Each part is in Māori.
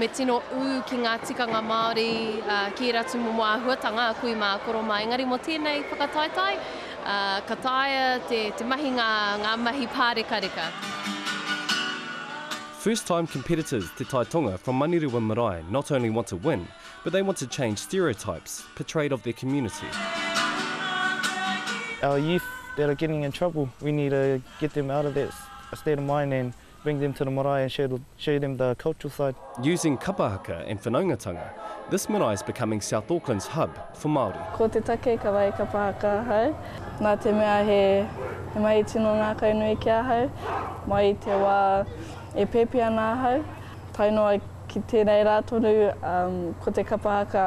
Me tino ū ki ngā tikanga Māori ki ērā tūmomo āhuatanga a kui mā, a koro mā. Engari mō tēnei whakataetae, ka taea te mahi ngā mahi pārekareka. First time competitors Te Tai Tonga from Manurewa Marae not only want to win, but they want to change stereotypes portrayed of their community. Our youth that are getting in trouble, we need to get them out of that state of mind and Bring them to the marae and show show them the cultural side. Using kapa haka and whanaungatanga, this marae is becoming South Auckland's hub for Māori. Ko te take ka wai kapa haka ahau, nā te mea he mahi tino ngākau nui ki ahau, mai i te wā e pēpi ana ahau, tae noa ki tērei rā tonu, ko te kapa haka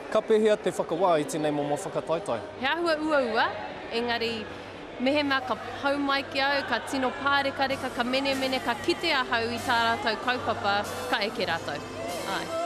Ka pēhea te whakawā i tēnei momo whakataetae? He āhua uaua, engari mehemea ka pau mai ki au, ka tino pārekareka, ka menemene, ka kite ahau i tā rātou kaupapa, ka eke rātou. Āe.